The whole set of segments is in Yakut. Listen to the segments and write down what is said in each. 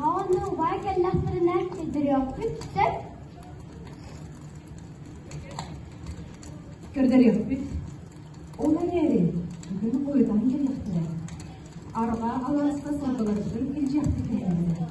Уонна убай кэллэхтэринэ көрдөрүөхпүт сөп. Көрдөрүөхпүт. Ол эрээри бүгүн хойутан кэллэхтэрэ. Арба алааска саталарбын илдьэхпит бэһэллэр.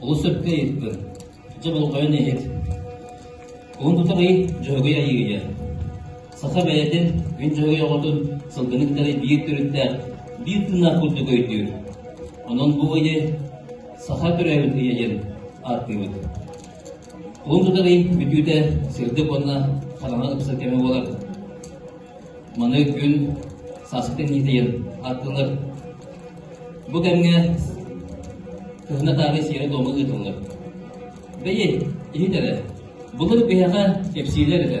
олус сөпкө ыйыппын. Дьэ болҕойон иһит. Уһун кутаҕый, дьөһөгөй айыыйа. Саха бэйэтин күн дьөһөгөй оҕотун сылгыны кытары биир төрүттээх, биир тыыннаах курдук өйдүүр. Онон бу ыйы саха төрөөбүт ыйыйын ааттыыбыт. Уһун кутаҕый бүтүүтэ сырдык уонна хараҥа ыкса кэмэ буолар. Маны күн сааскытын иитийэр ааттанар. Бу кэмҥэ кыһын атаары сиэри-туому ыытыллар. Бэйи, иһит эрэ. Былыр биһиэхэ кэпсиилэр этэ.